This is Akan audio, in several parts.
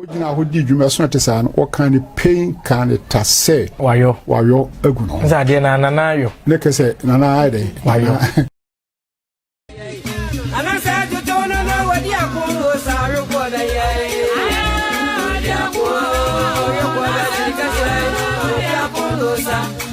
Wogyina hɔ di dwuma so te saa no, wɔka ne pain, ka ne ta sɛ. Wayɔ. Wayɔ agu no. Sɛ adeɛ na nana ayɔ. Ne kɛ sɛ nana ayɛ dɛ. Wayɔ. Anasɛ tutu no na wɔdi ako wɔ saa rekɔ na yɛ. Wɔdi ako wɔ rekɔ na yɛ kɛsɛ. Wɔdi ako wɔ saa.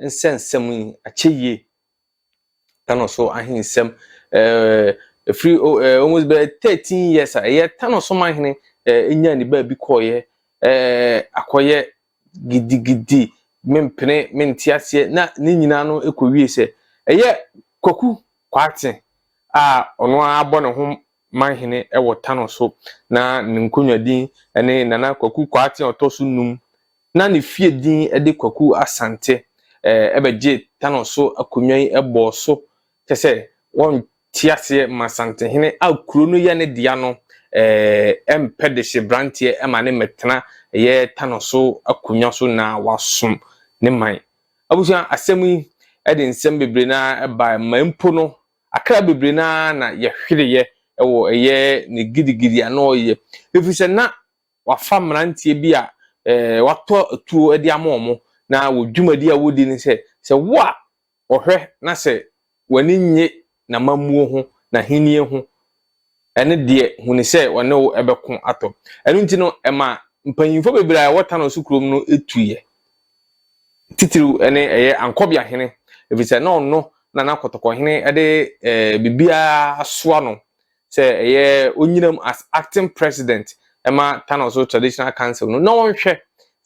nsɛnsɛm yi akyɛ yie tano so ahensɛm ɛɛ firi ɛɛ almost bɛyɛ thirteen years a ɛyɛ tano so man hene ɛɛ nya ne baabi kɔɔyɛ ɛɛ akɔyɛ gidigidi mempene mente aseɛ na ne nyinaa no ɛkɔ wie sɛ ɛyɛ kwaku kwaate a ɔno ara bɔ ne ho manhene wɔ Tano so, na ne nkonnwa din ne Nana Kwaku Kwarteng a ɔtɔ so num. Ná ne fie din de Kwaku Asante. Ɛbɛgyee Tano so akonnwa yi bɔɔ so, kyerɛ sɛ wɔnte aseɛ ma Asantehene a kuro no yɛ ne dea no mpɛ dehyeberanteɛ ma ne mmɛtena ɛyɛ Tano so akonnwa so na wasom ne man. Abusua, asɛm yi de nsɛm bebree no ara baeɛ ma mpo no Akra bebree no ara na yɛhwereeɛ wɔ ɛyɛ ne gidigidi a na ɔreyɛ, ɛfiri sɛ na wafa mmeranteɛ bi a watɔ atuo de ama wɔn, na wɔn dwumadie a wɔdi ne sɛ, sɛ wo a ɔhwɛ na sɛ w'ani nnye n'amammuo ho, n'ahennie ho, ne deɛ hunu sɛ ɔne wo bɛko atɔ. Ɛno nti no, ɛma mpanyimfoɔ bebree a ɛwɔ Tano so kurom no tuiɛ. Titiriw ne ɛyɛ Ankɔbea hene, ɛfiri sɛ na ɔno na na Kɔtɔkɔ hene de eh, biribiara soa no sɛ ɛyɛ onyinam as acting president ɛma Tano so traditional council no na ɔnhwɛ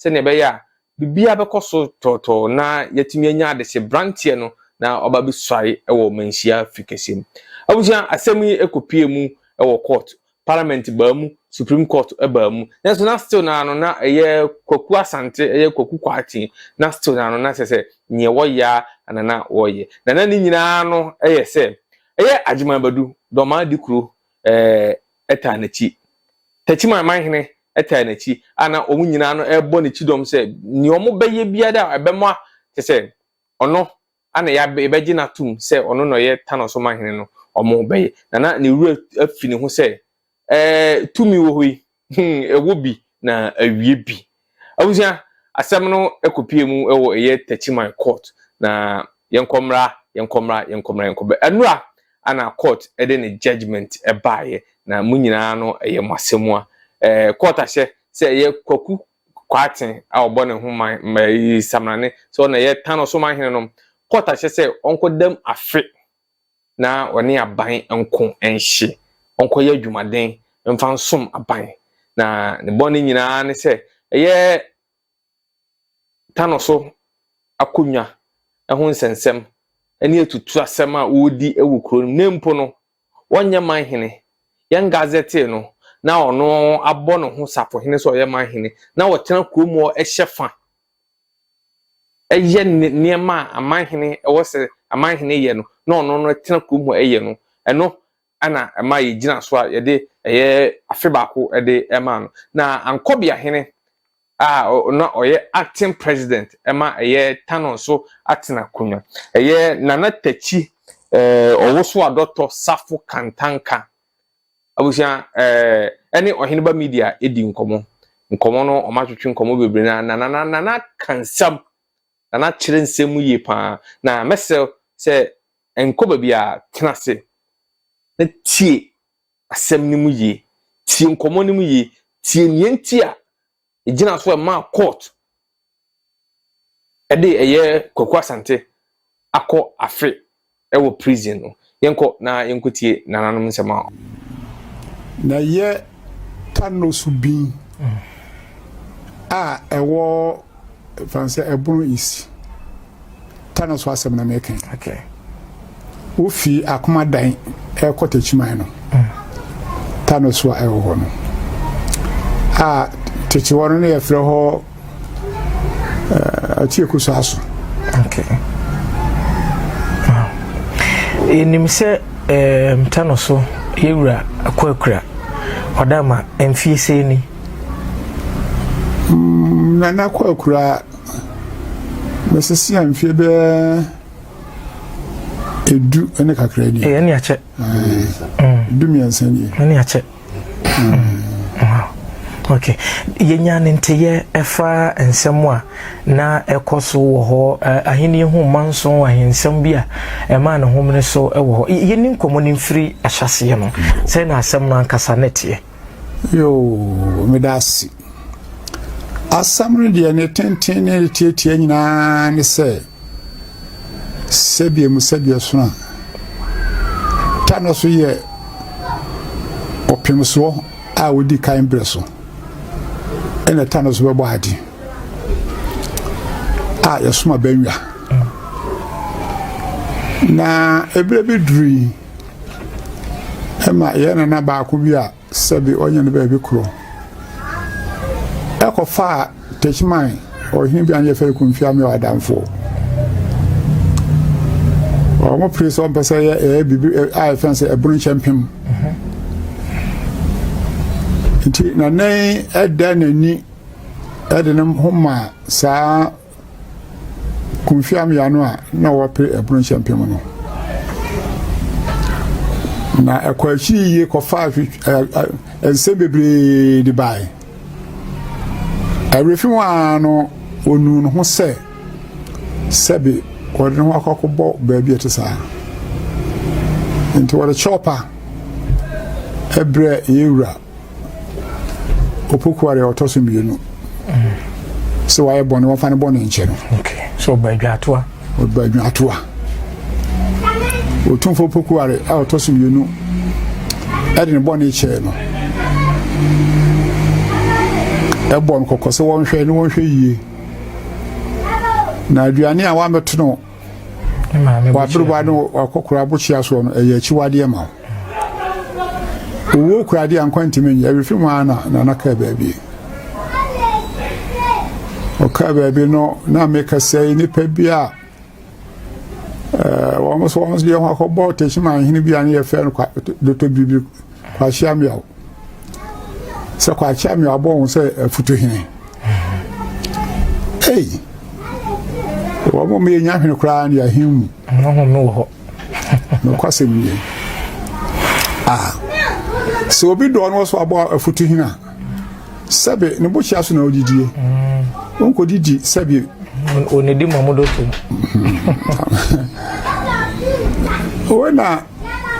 sɛdeɛ ɛbɛyɛ a Biribiara bɛkɔ so tɔɔtɔɔ na yɛatumi anya adesebranteɛ no na ɔba bɛsuae wɔ manhyia firi kɛseɛ mu. Abusua, asɛm yi kɔpie mu wɔ court, parliament baa mu, supreme court baa mu, nanso na still no ara no na ɛyɛ Kwaku Asante, ɛyɛ Kwaku Kwarteng, na still no ara no na sɛ sɛ neɛ wɔyɛ ara na na wɔyɛ. Na na ne nyinaa no yɛ sɛ ɛyɛ Agyeman Badu, Dormaa Dikuro, eh, taa n'akyi. Tachymaeman hene taa n'akyi, a na wɔn nyinaa no rebɔ no kyidɔm sɛ nea wɔbɛyɛ biara a ɛbɛma kyerɛ sɛ ɔno ana yɛbɛgye no atom sɛ ɔno na ɔyɛ Tano so manhene no, wɔbɛyɛ. Na na ne werɛ afi ne ho sɛ, Ɛɛ, tumi wɔ hɔ yi, hmm, ɛwɔ bi na awie bi. Abusua, asɛm no kɔpue mu wɔ ɛyɛ Techiman Court, na yɛnkɔ mmra, yɛnkɔ mmra, yɛnkɔ mmra, yɛnkɔ mmra. Ɛnora na court de ne judgement baeɛ, na mo nyinaa no ɛyɛ mo asɛmua. Eh, court ahyɛ sɛ ɛyɛ Kwaku Kwarteng a ɔbɔ ne ho man, mma, eh, Samrane, sɛ ɔna ɛyɛ Tano so man hene no, court ahyɛ sɛ ɔnkɔdam afe na ɔne aban nko nhye, ɔnkɔyɛ adwumaden mfa nsom aban. Na ne bɔne nyinaa ne sɛ ɛyɛ tano so akonnwa ho nsɛnsɛm ne atutu asɛm a wɔredi wɔ kuro no mu. Na mpo no, wɔnyɛ manhene. Yɛn gazɛtee no, na ɔno abɔ ne ho safohene sɛ ɔyɛ manhene, na ɔtena kurom hɔ hyɛ fa yɛ nneɛma a amanhene ɛwɔ sɛ amanhene yɛ no na ɔno no tena kurom hɔ yɛ no ɛno ɛna ɛma yɛgyina so a yɛde ɛyɛ afe baako de ɛma no na ankɔbea hene a na ɔyɛ acting president ɛma ɛyɛ tano nso atena konwa ɛyɛ nana takyi ɛɛ ɔwoso adɔtɔ safo kantanka Abusua ɛɛ ɛne Ɔheneba Media edi nkɔmɔ. Nkɔmɔ no wɔn atwetwe nkɔmɔ bebree na na na na na ka nsɛm na na kyerɛ nsɛm mu yie paa na mɛsrɛ sɛ nkɔ baabi a tena ase na tie asɛm no mu yie tie nkɔmɔ no mu yie tie nea nti a egyina so ɛmaa court ɛde ɛyɛ Kwaku Asante akɔ afe ɛwɔ prison no. Yɛnkɔ na yɛnkɔtie nananom nsɛm a. Na yɛ Kano subin a ɛwɔ. Ɛfane sɛ ɛbono east ta no so asɛm na mɛka yi. Okay. Wofi akoma dan ɛkɔ takyiman no. Mm. Ta no so a ɛwɔ hɔ no. A takyi hɔ no ne yɛfrɛ hɔ atieku so aso. Okay. Yɛnim sɛ ta no so yɛwura akɔ akura ɔdama mfie sɛ ni. Mm, Nana Kwakuraa, bɛsese a mfeɛ bɛɛ ɛdu ne kakra ni. Ɛyɛ ne akyɛ. Mm. Du mmiɛnsa ni. Ɛne akyɛ. ok yɛnya ne nteyɛ ɛfa nsɛm a na ɛkɔ so wɔ hɔ ahenni ho mma nso ahensɛm bi a ɛma ne homene so wɔ hɔ yɛni nkɔmmɔ no mfiri ahyɛseɛ no sɛ na asɛm no ankasa ne teɛ Yoo meda ase. Asɛm no deɛ ne tenten ne ne tiatia nyinaa ne sɛ sɛdeɛ mu sɛdeɛ sono a ta no so yɛ ɔpemsoɔ a wɔdi kan berɛ so ɛna ta no so bɛbɔ ade a yɛsoma bɛnwa na ɛberɛ bi duru yi ma yɛn nana baako bi a sɛbi ɔnyɛ no baabi koro ɛkɔfaa techiman ɔhene bi a ne yɛfɛ kumfia me ɔadamfoɔ wɔn pere sɛ ɔmpɛ sɛ ɛyɛ biribi a yɛfɛ sɛ ɛbono nkyɛ mpem nti nanan ɛda n'ani ɛde ne ho maa saa Kofi Amiano a na wɔpere ɛpono nhyɛmpem no. Na ɛkɔ akyi yie kɔfaa nsɛm bebree de baeɛ. Awerɛfi ho ara no ɔnuu ne ho sɛ sɛbe wɔde ne ho akɔ akɔbɔ baabi a ɛte saa. Nti wɔde kyɛwpa ɛbrɛ yɛn wura. opokuare a ɔtɔ so mmienu sɛ wayɛ bɔne wɔmfa ne bɔne nkyɛ no sɛ ɔba adwaatoa ɔba adwaatoa ɔtumfo opokuare a ɔtɔ so mmienu ɛde ne bɔne kyɛɛ no ɛbɔ no kɔkɔ sɛ wɔnhwɛ ne wɔnhwɛ yie na aduane a wɔamɛto no waberewa ne wakɔkora abokyea soɔ no ɛyɛ akyiwadeɛ ma wo Owuo kura adeɛ a nkwa ntumi nyɛ. Ɛrefi mu ara na Nana kaa baabi. Ɔkaa baabi no na meka sɛ nnipa bi a eh, wɔn nso wɔn nso yɛ ho akɔbɔ Techiman hene bi a ne yɛfrɛ no Dr. Biribi Kwakye Ameaw sɛ Kwakye Ameaw abɔ wɔn sɛ afutu hene. Ei, wɔn mu yɛ nya hwene koraa ne ahemu. Nokwasɛm nie. A Sɛ obi dɔɔ no so abɔ afutu hin a, sɛbe ne bokyea so na ɔdidie. Ɔnkɔdidi sɛbe. Ɔnidi ma modo so. Wei na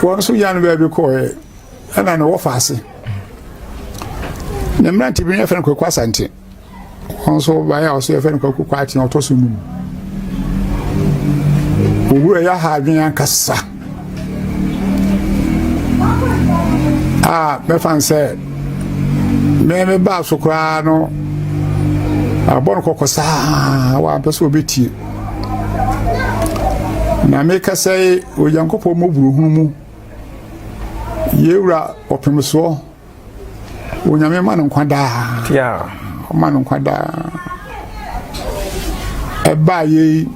wɔn nso yan baabi kɔɛ ɛna ne wɔfa ase. Ne mmerante bi ne yɛfrɛ no Kwaku Asante. Ɔnso baeɛ a ɔsɛ yɛfɛ no kwaku kwaate na ɔtɔ so num owura yɛ ha adwene ankasa a mɛfa n sɛ me me baa so koraa no abɔ no kɔkɔ saa wampɛ sɛ ɔbɛtie na meka sɛ onyankopɔn mmɔburohunu mu yɛwura ɔpemsoɔ Onyame ma no nkwa daa. Yeah. Ɔma no nkwa daa. Ɛbaa yei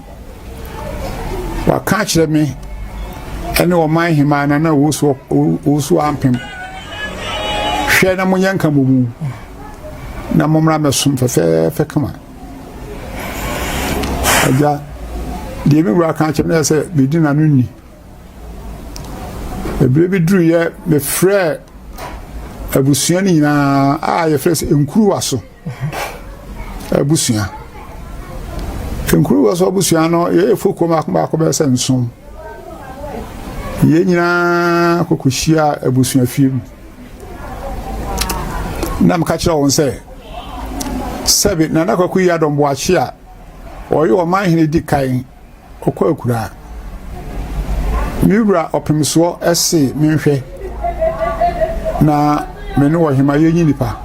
waka akyerɛ me ɛne ɔman hemaa na na ɔwusu ampem hwɛ na monyɛ nka mmɔ mu na mommra mɛsom fɛfɛɛfɛ kama agya deɛ me wura ka akyerɛ me sɛ bɛdi n'ano nni Ɛberɛ bi duruiɛ mefrɛɛ abusua no nyinaa a yɛfrɛ sɛ nkuruwa so abusua nkuruwa so abusua no yɛyɛ fokuo baako baako bɛyɛ sɛ nson yɛn nyinaa kɔkɔhyia abusua fie mu na meka kyerɛ wɔn sɛ sɛbe nana kwaku yi adɔmboakye a ɔyɛ ɔman hene di kan ɔkɔ akuraa. Me wura ɔpemsoɔ se menhwɛ na me ne ɔhema yɛnyi nnipa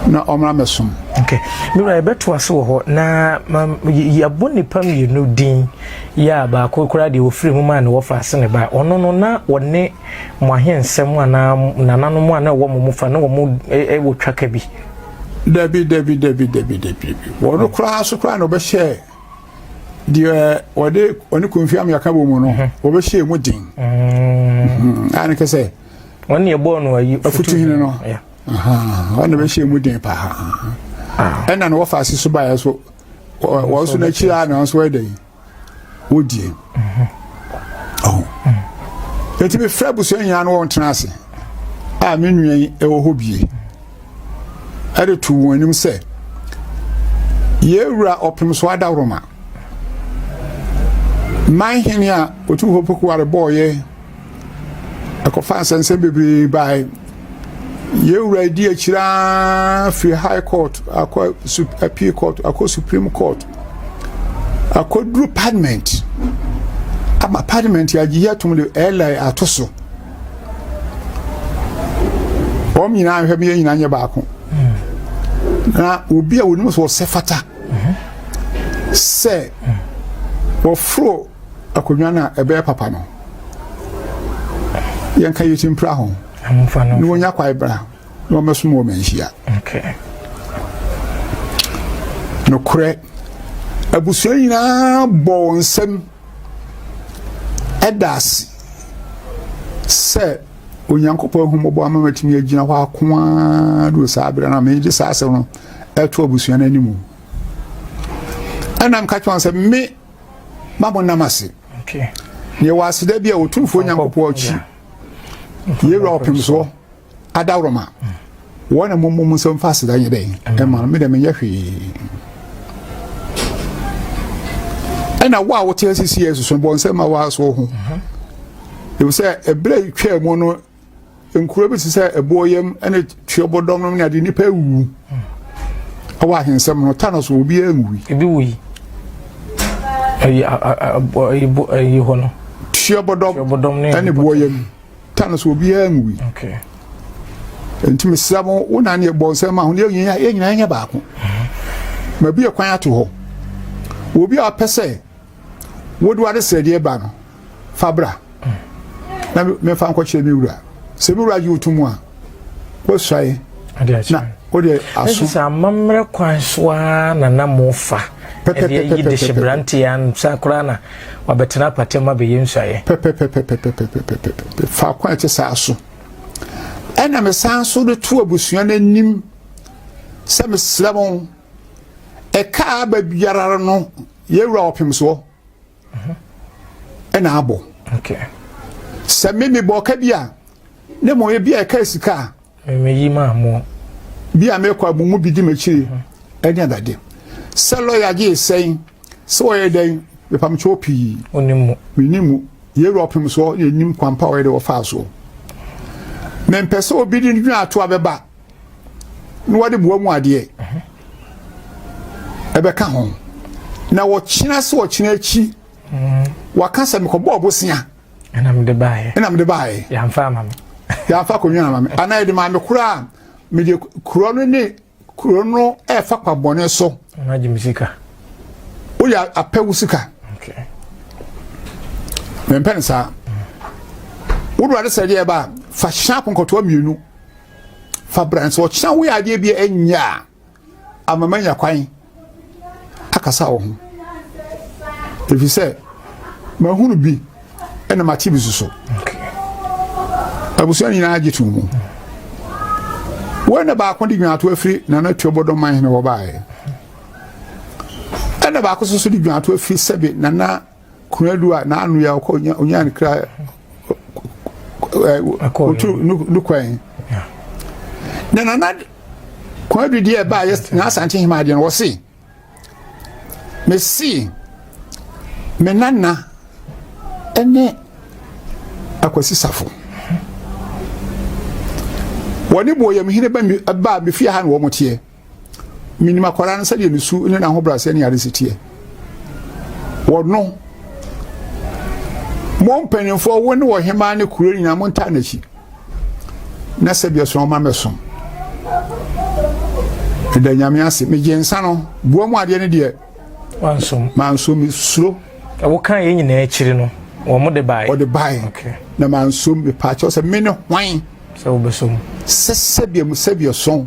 na ɔmmra mmɛsom. Okay. Me wura yɛbɛto ase wɔ hɔ na yɛabɔ nnipa mmienu din yɛ a baako koraa deɛ ɔfiri mu maa ne wɔfa ase ne ba ɔno no na ɔne mo ahensɛm anaa nananom a na ɛwɔ mo mu fa na wɔn wɔ twaka bi. Dabi dabi dabi dabi dabi wɔn koraa so koraa na ɔbɛhyɛ deɛ wɔde ɔne konfi amea ka bɔ mu no mhm. wɔbɛhyɛ mu den mm. a ne kɛ sɛ wɔne ɛbɔɔ no ayi afutu hene no ɔne bɛhyɛ mu den paa ah. ɛna no wɔfa ase so baeɛ so wɔn so n'akyi a na wɔn so ɛdɛ yi wɔdie mhm. ɔho ɛtumi mm. fɛ abusua nyinaa no wɔn tena ase a me nua yi ɛwɔ hɔ bie ɛde too wɔn anim sɛ yɛwura ɔpem so adawroma man hene a otu hɔ pokuware bɔɔyɛ ɛkɔfa nsɛnsɛm bebree bae yɛwura edi akyiraa firi high court akɔ appeal court akɔ supreme court akɔduru parliament ama parliament agye yɛ atom de ɛlɛ ato so wɔn nyinaa nhwɛ mi yɛn nyinaa nyɛ baako na obi a onim sɛ ɔsɛ fata sɛ wɔforo akonnwa no a ɛbɛyɛ papa no yɛnka yɛkyi mpira ho na wɔnya kwae bra na wɔmɛsom wɔ manhyia nokorɛ abusua nyinaa bɔ wɔn nsam Ɛda ase sɛ Onyankopɔn ahummɔbɔ ama matumi agyina hɔ ako ara do saa berɛ no a mede saa asɛm no ɛto abusua no anim. Ɛna meka kyerɛ wɔn sɛ me ma mo nam ase. Yɛwɔ aseda bi a Otumfoɔ Nyankopɔn akyi. Yɛwura ɔpem soɔ. adaworoma wɔn na mommɔ mu nsɛm fa aseda nyɛ dɛn ɛma no medɛ menyɛ hwee ɛna wo a wote asisi yɛ soso bɔ nsɛm ma woaso ho ɛfiri sɛ ɛberɛ twaa mu no nkuro bi te sɛ ɛboɔ yam ne tuobɔdɔm no ne ade nnipa awuwu ɛwɔ ahensɛm no ta no so obi anwui ebi wui ɛyi ɛyi hɔ no tuobɔdɔm ne boɔ yam ta no so obiara nwui nti mesrɛ mo wo na neɛ bɔ nsɛm ma ho ne yɛnyina yɛnyina nyɛ baako mm-hmm. ma bi ɛkwan ato hɔ obi a ɔpɛ sɛ wode wade srɛdeɛ ba no fa bra mm. na mefa nkɔkyerɛ me wura sɛ me wura gye woto mu a wɔsuae na wode aso. Sɛ amammerɛ kwan so ara na na mofa ɛde ayi de hyɛ mmeranteɛ ansa koraa na wabɛtena apatam abɛyɛ nsuaeɛ. Pɛpɛpɛpɛpɛpɛpɛpɛpɛ faako a ɛte saa so ɛna mesan so de to abusua no anim sɛ mesrɛ mo ɛkaa aba biara no yɛwura ɔpem soɔ. ɛna abɔ sɛ me mebɔ ɔka bi a ne mmom ebi a ɛka sika a meyi maa mo bi a mekɔ a mo mu bi di m'akyiri ɛne adade sɛ lɔya gye sɛn sɛ wɔyɛ dɛn mepamkyɛw pii menni mu yɛwura ɔpem soɔ ne ɛnim kwampa wɔyɛ dɛ wɔfaa soɔ mempɛ sɛ obi de dwene ato a bɛba na wɔde boa mu adeɛ ɛbɛka ho na wɔkyena sɛ wɔkyena akyi waka sɛ mekɔbɔɔ bosea ɛna mede baeɛ ɛna mede baeɛ yɛamfa ama me yɛamfa akɔnwa ama me anaa yɛde maa me koraa mede kuro no ne kuro no ɛfa kwa bɔne so agye me sika woyɛ apɛ wo sika mempɛ ne saa wodowade sɛ deɛ ɛba fa hyɛ akonkɔtoa mmienu fa bra nso ɔkyena woyɛ adeɛ bi ɛnyɛ a ama manya kwan akasa wo ho ɛfiri sɛ mahunu bi ɛna mate bi soso abusua nyinaa agye to mu wei na baako de dwunato afiri nana tuo bɔdɔ man hene hɔ baeɛ ɛna baako soso de dwunato afiri sɛbe nana Konadu a n'ano yɛ ɔkɔ onyaa ne kra otu no kwan na nana Konadu deɛ ɛbaa yɛ n'asante hema adeɛ no wɔse mesi me nana ɛne akwasi safo wɔne bɔ yɛm hene ba mi ba mi fie ha na wɔn teɛ. Menim akwadaa no sɛdeɛ ne su ne n'ahobrɛaseɛ ne adese teɛ. Wɔno, mo mpanimfoɔ wo ne wɔ hemaa ne kuro nyinaa mo ntaa n'akyi. Na sɛ bi ɛso ɔma mɛso. Ɛda nyame ase, megye nsa no, bua mu adeɛ no deɛ. Wansom. Mansom, mesuro. Ɛwo kan yɛ nyinaa akyiri no, wɔn de bae. Wɔde bae. Okay. Na mansom, mepaakyɛw sɛ me ne hwan. Sɛ wobɛsom. Sɛ sɛdeɛ mu sɛdeɛ sɔn.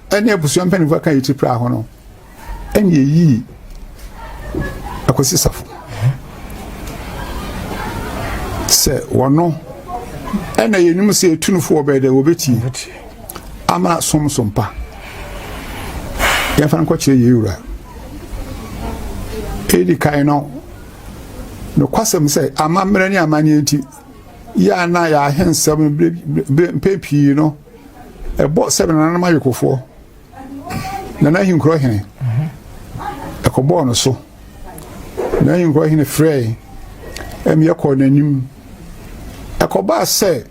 ne abusua mpanyimfo aka yɛ ti pira ho no ɛne ɛyii akwasi safo sɛ wɔno ɛna yɛnim sɛ ɛtunufo wɔbɛyɛ dɛ wɔbɛtie ama som so mpa yɛmfa nkɔkyerɛ yɛ wura ɛdi kan no nokwasɛm sɛ amammerɛ ne amanneɛ nti yɛ a na yɛahensɛm mpɛ pii no ɛbɔ sɛ nananom ayokofoɔ nana ahenkurɔ hene ɛkɔbɔɔ no so na ahenkurɔ hene frɛɛ ɛmeɛ kɔɔ n'anim ɛkɔbaa sɛ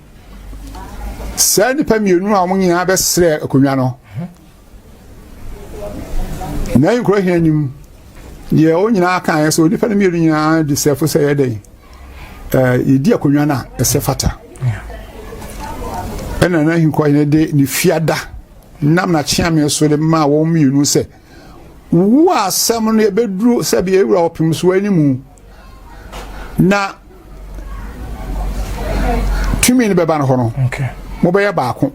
saa nnipa mmienu a wɔn nyinaa bɛsrɛ akonnwa no na nkura hia nim deɛ wɔn nyinaa kan yɛ sɛ onipa no mmienu nyinaa de sɛfo sɛ yɛ dɛn ɛɛ yɛdi akonnwa no a ɛsɛ fata ɛna na nkura hia de ne fiada nam na kyeame so de maa wɔn mmienu sɛ wowu a asɛm no yɛbɛduru sɛbi ewura ɔpem so anim. na tumi no bɛba no hɔ no mobɛyɛ baako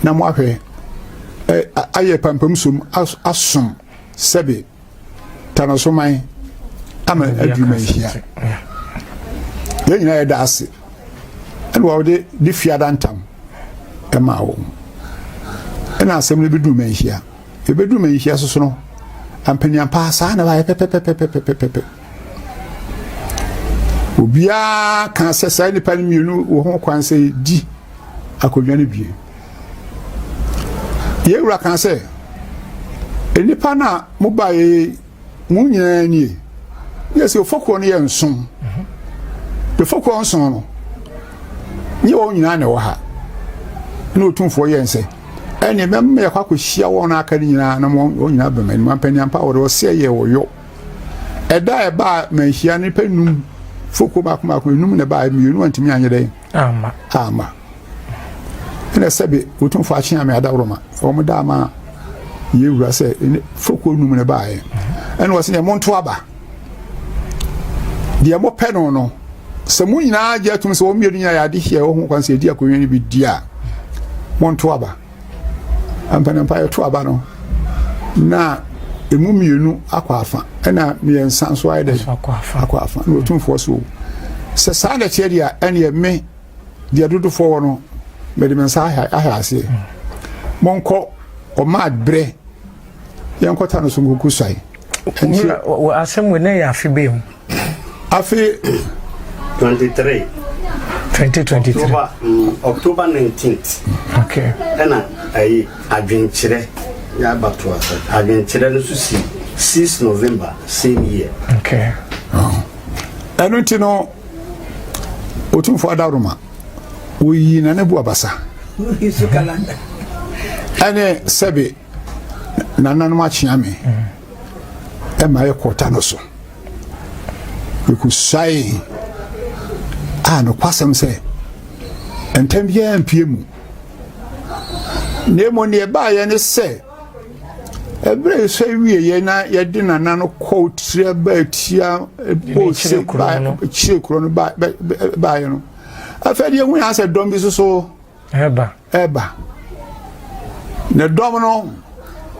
na moahwɛ ayɛ pampam som asom sɛbe tanasoman ama adwuma ahyia yɛn nyinaa yɛda ase ɛna wɔde de fiada ntam ɛma wɔn ɛna asɛm no bɛdu ma ahyia Yɛbɛduru manhyia so so no, ampanian paa saa na wayɛ pɛpɛpɛpɛpɛpɛpɛ. Obiara kaa sɛ saa nnipa no mmienu wɔ ho kwan sɛ di akonnwa no bie. Yɛn wura kaa sɛ, nnipa no a mobaeɛ Wɔn nyinaa nie. Yɛ sɛ ɔfɔkuo no yɛ nson. Ɔfɔkuo nson no, nyɛ wɔn nyinaa na ɛwɔ ha. Ɛna ɔtumfoɔ yɛ nsɛ. Ɛne mɛma yɛkɔ akɔhyia wɔn a aka no nyinaa na wɔn nyinaa bɛma anim. Ampaniampa wɔde ɔsɛ yɛ wɔyɔ. Ɛda a ɛbaa manhyia no nipa num fɔkuo baako baako enum na ɛbaa mmienu antumi anyɛ dɛn. Amma. Amma. Ɛna sɛbe wotumfo akyea me adaworoma. Wɔn da ama yɛwura sɛ fokuo num no baeɛ. Ɛna wɔsɛ yɛ monto aba. Deɛ mopɛ no no sɛ mo nyinaa gye atum sɛ wɔn mmienu nyinaa yɛ adehyɛ wɔ ho kwan sɛ yɛdi akonnwa no bi di a monto aba. Ampanampa yɛto aba no na emu mmienu akɔ afa ɛna mmiɛnsa nso ayɛ dɛ akɔ afa na otumfoɔ so sɛ saa na ɛteɛ deɛ ɛneɛ me deɛ dodofoɔ wɔ no mede me nsa ahɛ aseɛ monkɔ ɔma berɛ Yɛnkɔta no so nkuku suae. Nti wɔ asɛm wɔ ne yɛ afe bɛɛ mu. Afe 23. 2023. October, mm, October 19th. Okay. Ɛna ɛyi adwenkyerɛ yɛ abato asa. Adwenkyerɛ no so si 6 November same year. Okay. Oh. Ɛno nti no otumfo adaroma oyi na ne bu abasa. Ɛne sɛbe Nananom akyea me ɛma yɛ kɔta no so. Mekusuae a nokwasɛm sɛ ntɛm biara mpie mu. Na mmom nea ɛbaeɛ ne sɛ ɛberɛ yi sɛ wieɛ na yɛde nana no kɔɔ tira baa tia bose kyire kuro no baeɛ no afei deɛ hu yɛ asɛ dɔm bi soso Ɛba. Ɛba. Ne dɔm no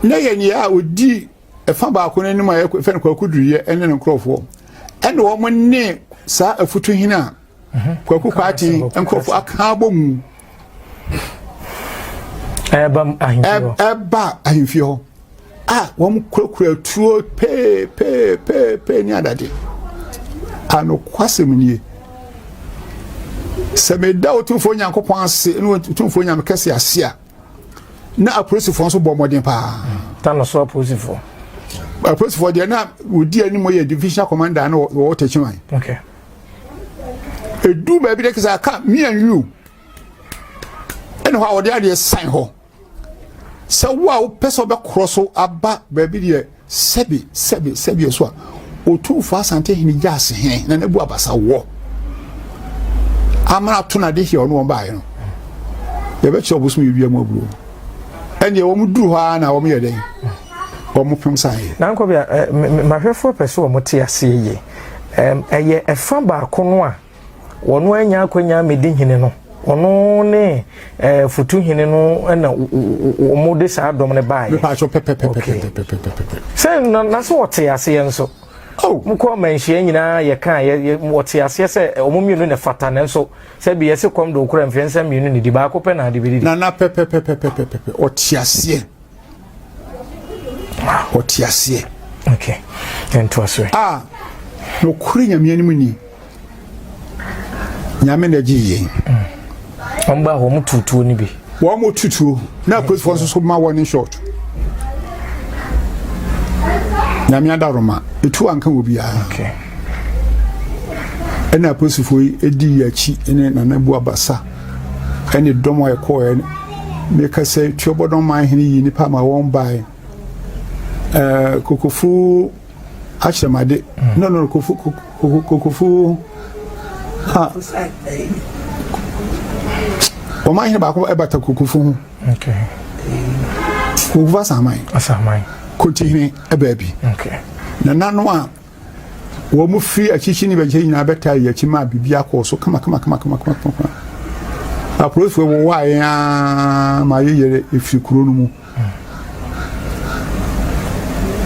na yɛ nea a ɔdi ɛfa baako no anim a yɛfɛ no kwaku duruyɛ ɛne ne nkurɔfoɔ ɛne wɔn ne saa afutu hene a mhm. kwaku kwaate nkurɔfoɔ aka abɔ mu ɛba ahemfie hɔ a wɔkurakura atuo peepeepeepee ne adade a nokwasɛm nie sɛ meda otumfoɔ nyankopɔn ase ne otumfoɔ nyame kɛse ase a na apolisifoɔ nso bɔ mmɔden paa ta no so apolisifoɔ apolisifoɔ deɛ na wɔdi anim yɛ division commander na wɔwɔ takyiman okay. ɛdu baabi dɛ kɛ sɛ aka me and you ɛne hɔ a wɔde adeɛ san hɔ Sɛ wo a wopɛ sɛ wobɛkorɔ so aba baabi deɛ sɛbi sɛbi sɛbi so a, Otumfo Asante Hene gya ase he na n'abu abasa wɔ amana to na de hia ɔne wɔn baeɛ no yɛbɛkyerɛ ɔbosom yɛ wia mu abuo ɛnneɛ wɔn duru hɔ ara na wɔn yɛ dɛn wɔn pem san yɛ. nankɔ bi a mahwɛfoɔ pɛ so wɔn te aseɛ yie ɛyɛ ɛfa baako no a. Wɔn anya akwanya amedi hene no. Ɔno ne ɛɛ futu hene no na wɔn de saa dɔm no baayɛ. Mipa aso pɛpɛpɛpɛpɛpɛpɛpɛ. Sɛ na na so wɔte aseɛ nso. Oh. Mo kɔ mɛnhyia nyinaa yɛ kan yɛ yɛ wɔte aseɛ sɛ wɔn mmienu na fata na nso sɛ bi yɛsi kɔm do okura mfɛnsa mmienu ne di baako pɛ na adi bi di. Na na pɛpɛpɛpɛpɛpɛpɛ ɔte aseɛ. ɔte aseɛ okay. a wɔkore nyame anim ni nyame na agye yɛn wɔn ba wɔn tutuo no bi wɔn mo tutuo na apolisifoɔ nso so ma wɔn ne short nyame adaroma etu anka wɔ biara ɛna apolisifoɔ yi edi yɛn akyi ne nana bu abasa. ɛne dɔm a ɛkɔɔɛ ne ka sɛ tuobɔdɔn man hene yi nipa ma wɔn bae ɛɛ kokofu ahyɛmade mm. no no kokofu kokofu ha wɔn man hene baako ɛbata kokofu ho kokofu asaman asaman kotihene ɛbaabi na nanu a. Wɔn firi akyikyi ne bɛkyɛ nyinaa bɛtaa yɛn akyi maa biribiara kɔɔ so kamakamakamakama. Apolisifoɔ wɔwaa yɛn ara ma yɛyɛrɛ ɛfiri kuro no mu.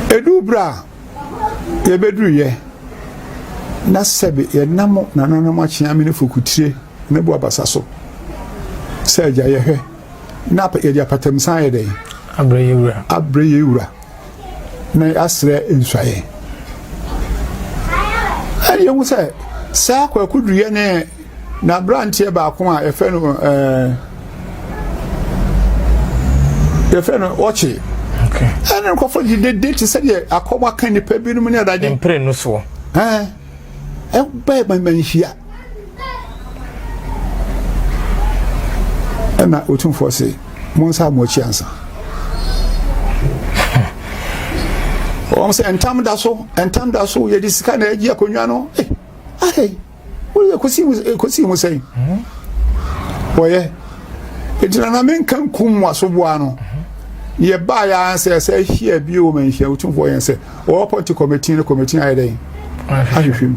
Ɛduu berɛ a yɛbɛduruyɛ na sɛbe yɛnam nananom akyea me ne fokutire Mɛbu abasa so sɛ agya yɛ hwɛ na yɛde apatamsan ayɛ dɛn? Abrɛ yɛn wura. Abrɛ yɛn wura na yɛasrɛ nsuaeɛ. Ɛne yɛhu sɛ saa kwaku duruyɛ ne n'aberanteɛ baako a yɛfrɛ no ɛɛ yɛfrɛ no ɔkye ɛne nkɔfo de dede te sɛ deɛ akɔm aka nnipa binom ne adade mpere no soɔ ɛɛ ɛba ɛma nhyia ɛna otumfoɔ se mo nsa mo akyi ansa wɔn sɛ ntam da so ntam da so yɛde sika na ɛgye akonnwa no eh ahɛ wɔyɛ kosi mu eh, kosi mu sɛn wɔyɛ egyina na menka nkum mu asoboa no yɛ baa yɛ ansɛ sɛ ahyia bi o ma nhyia otumfoɔ yɛn sɛ Wɔapɔnte kɔmitii no kɔmitii no ayɛ dɛn? Ahwehwɛ mu.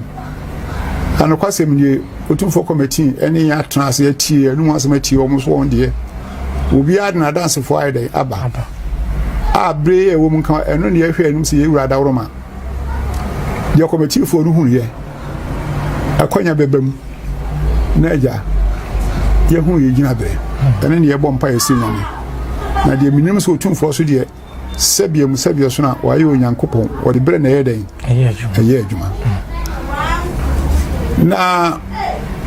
Na nokwasɛm nie, Otumfoɔ kɔmitii ne yɛn atena ase atie yɛn anum asɛm atie wɔn nso wɔn deɛ. Obiara de n'adansefoɔ ayɛ dɛn? Aba. A bere a ɛwɔ mu nka ɛno na yɛhwɛ anim sɛ yɛwura adaworoma. Deɛ kɔmitiifoɔ no hunuiɛ, akwanya bɛba mu na agya yɛhunu yɛn gyinabere. Ɛne na yɛbɔ mpaeɛ sɛ Nyame. Na deɛ menim sɛ Otumfoɔ so deɛ Sɛdeɛ mu sɛdeɛ so na wɔayɛ Onyankopɔn, wɔde berɛ na ɛyɛ dɛn? Ɛyɛ adwuma. Na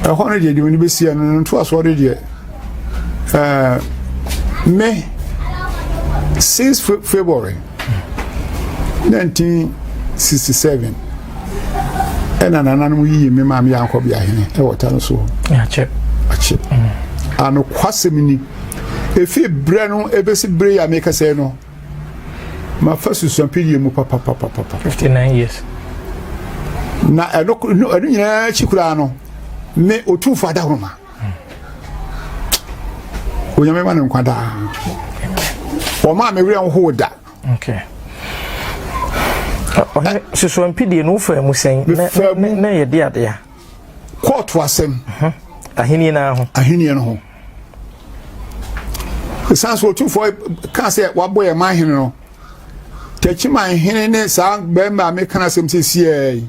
ɛhɔ no deɛ deɛ wɔn bɛsi ɛno no ntoasoɔ de deɛ ɛɛ me since February nineteen sixty seven ɛna nananom yiyi me maame yɛ ankɔ beahene ɛwɔ ta no so. Akyɛ. Akyɛ. Mm. Anokwasɛm ni. Efi berɛ no ɛbɛsi berɛ yi a mekasa yi no, mafa susuampelie mu papapapapa. 59 years. Na ɛno ɛno nyinaa akyi koraa no, me Otumfoɔ Adahoroma. Onyame ma no nkwa daa. Wɔma a me werɛ nhow da. Okay. Ɔhene susuampelie no wofaa mu sɛn na yɛde adeɛ a kɔɔto asɛm ahenni no ho ahenni no ho ɛsiane sɛ ɔtumfoɔ ka sɛ wabɔ yɛ ma hene no takyiman hene ne saa bɛrima a meka no asɛm sɛ siɛi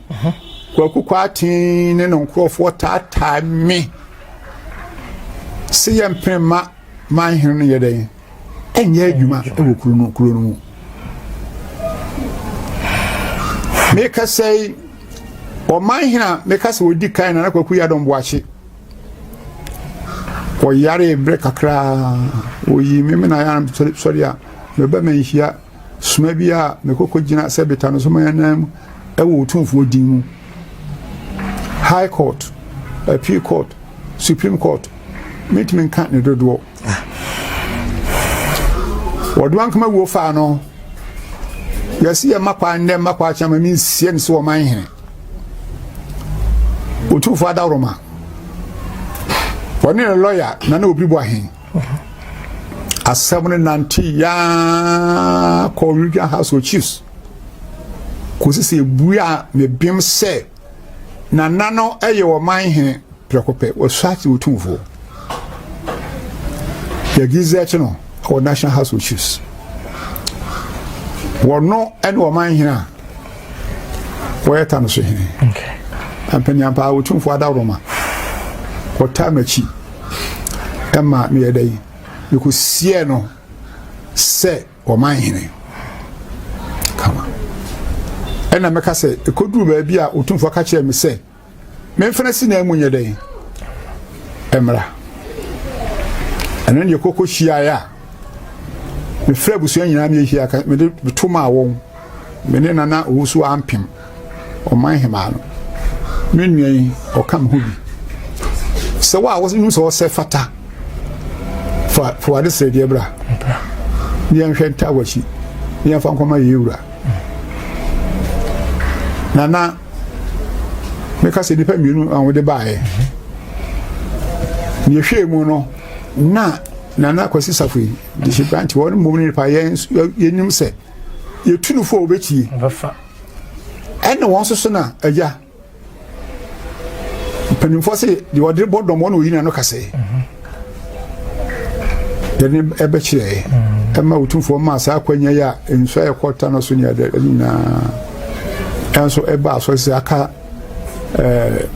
kwaku kwaaten ne no nkurɔfoɔ taataa me sɛ yɛmpene ma man hene no yɛ dɛn nyɛ adwuma wɔ kuro no kuro no mu mekasa yi ɔman hena mekasa wɔdi kan na na kwaku yɛ adɔm boakye ɔyare berɛ kakraa ɔyii me mena yɛ sɔre a meba manhyia soma bi a mekɔkɔ gyina sɛ beta no so mayanam mu ɛwɔ ɔtumfoɔ din mu high court appeal court supreme court mentumi nka ne dodoɔ wɔde wɔn akoma wuo faa no yɛsi yɛ mma kwan nnɛ mma kwan akyɛn ma mi nsie no so wɔn man hene otumfoɔ adaworoma wɔne ne lɔya na ne obi bu ahen asɛm no nante yaa kɔ regional house of chiefs kɔsi sɛ ebue a mebem sɛ Nana no yɛ ɔman hene prɛko pɛ, wɔsate otumfoɔ. Yɛ Gizek no wɔ National House of Chiefs. Wɔno ne ɔman hene a wɔyɛ ta no so hene. Mpanyinam paa otumfoɔ adaworo ma wɔtaa m'akyi ɛma meyɛ dɛ mekɔsiɛ no sɛ wɔman hene kama ɛna mɛka sɛ ɛkɔduru baabi a ɔtumfoɔ ka kyerɛ me sɛ memfena si na mu nyɛ dɛn mmra ɛno ne yɛkɔkɔ hyiaeɛ a mefrɛ abusua nyinaa meyɛhia mede meto maa wɔn Me ne Nana Owusu-Ampem, Ɔman Hemaa no. Me nua yi, ɔka me ho bi. Sɛ wo a wonim sɛ ɔsɛ fata, fa fa wade srɛdeɛ bra. Ne yɛnhwɛ ntaa w'akyi, ne yɛmfa nkɔma yɛn wura. Nana, meka sɛ nnipa mmienu a wɔde baeɛ. Ne yɛhwɛɛ mu no, na Nana Kwasi Safo yi, de hyɛ brante, wɔn mmom ne nipa yɛn yɛnim sɛ Yɛtu no fo a wɔbɛtie. Ɛne wɔn soso na agya. Mpanimfoɔ se deɛ ɔde bɔ dɔm ɔne ɔyina no kasɛ. Yɛne ɛbɛkyerɛ ɛma ɔtumfoɔ maa saa akwanya yi a nsuo a ɛkɔta no so ne ɛdɛ nyinaa ɛnso ɛba asɔre sɛ aka ɛɛ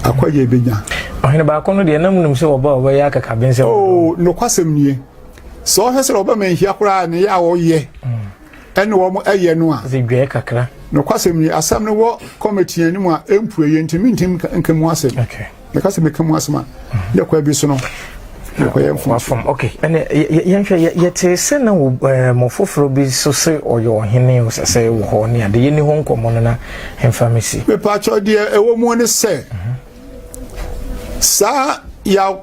akwanya ebenya. Ɔhene baako no deɛ na mu nim sɛ wɔba wɔbɛyɛ akakabensɛm. Oo oh, nokwasɛm nie. sɛ ɔhwɛ sɛ ɔbɛma nhia koraa ne yɛ a ɔyɛ ɛne wɔn ɛyɛ no a zedwɛɛ kakra nokwasɛm ni asɛm no wɔ kɔmɛtiɛ no mu a ɛmpue yɛ ntimi ntim nka mu asɛm yɛka sɛ meka mu asɛm a yɛ kwa bi so no wafam ok ɛnɛ yɛnhwɛ yɛtee sɛ na mɔ foforɔ bi so sɛ ɔyɛ ɔhene o sɛ sɛ wɔ hɔ ne ade yɛni hɔ nkɔmmɔ no na ɛmfa me si mepaakyɛw deɛ ɛwɔ mu ne sɛ saa yɛ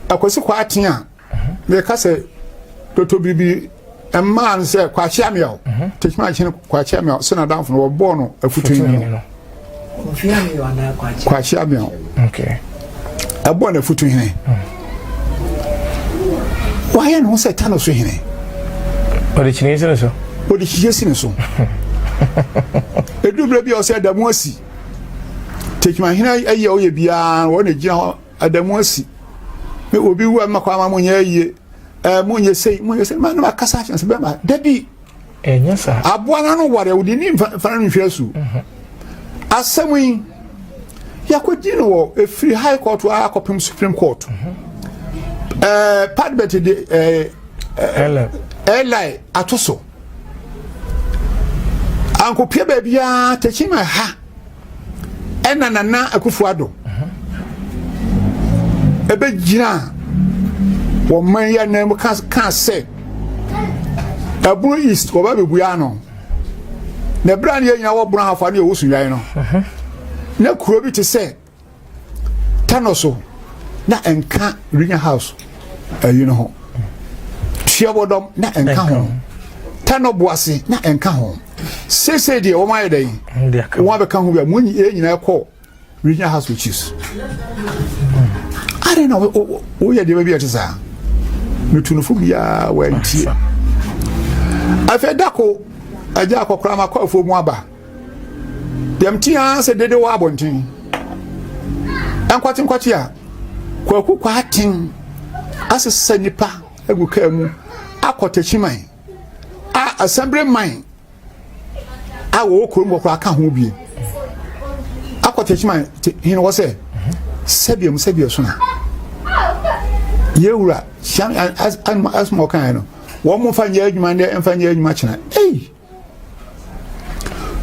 akwasi kɔ aten a meka sɛ toto biribi mmaa no sɛ kwakyia mmea o tekima akyene kwakyia mmea sɛ n'adamfo no wɔbɔɔ no afutu nwini no kwakyia mmea o ɛbɔɔ no afutu hene wayɛ ne ho sɛ ta no so hene ɔde kyiniɛ si ne so ɔde kyiniɛ si ne so ɛduru berɛ bi a ɔsɛ da mu asi tekima hene ayɛ ɔyɛ biara wɔne gyina hɔ Ada mu asi. Me obi wu a mma kwan ma mo nyɛ ayie. Ɛɛ mo nyɛ sei, mo nyɛ sei. Ma no akasa ahyɛ nsa bɛma. Dabi. Ɛnyɛ saa. Aboa no ano ware a wodi ni mfa mfa no nhwɛ asu. Mhm. Asɛm yi yɛakɔdi no wɔ ɛfiri high court a akɔpem supreme court mhm. eh, padbet de eh, eh, li ato so ankɔpia baabiaa takyima ɛha ɛna nana akufo ado ɛbɛgyina wɔn man yɛ nan mu ka sɛ ɛbono east wɔba bɛbua ano na ɛberɛ a ne yɛnyina wɔbono ahafa ne yɛwɔ sunwae no na kuro bi te sɛ tano so na nka regional house ayi no ho tuabɔdɔm na nka ho tano boase na nka ho sese deɛ wɔn ayɛ dɛ yi wɔn abɛka ho bi a wɔn nyinaa kɔ regional house which is adɛn na woyɛ deɛ baabi a ɛte saa metunufo biara wɔantie afei dako agya akɔkora makɔ afuo mu aba Dɛm ti ara sɛ dede wɔ abɔnten. Nkɔtenkɔte a kwaku kwaaten asesa nipa agu kaa mu akɔ takyiman a asɛmbere man a wɔwɔ kurom hɔ koraa ka ho bie akɔ takyiman hene hɔ sɛ sɛdeɛ mu sɛdeɛ so na yɛwura hyɛn asoma ɔkan no wɔn mo nfa nyɛ adwuma ndɛ nfa nyɛ adwuma kyena ei.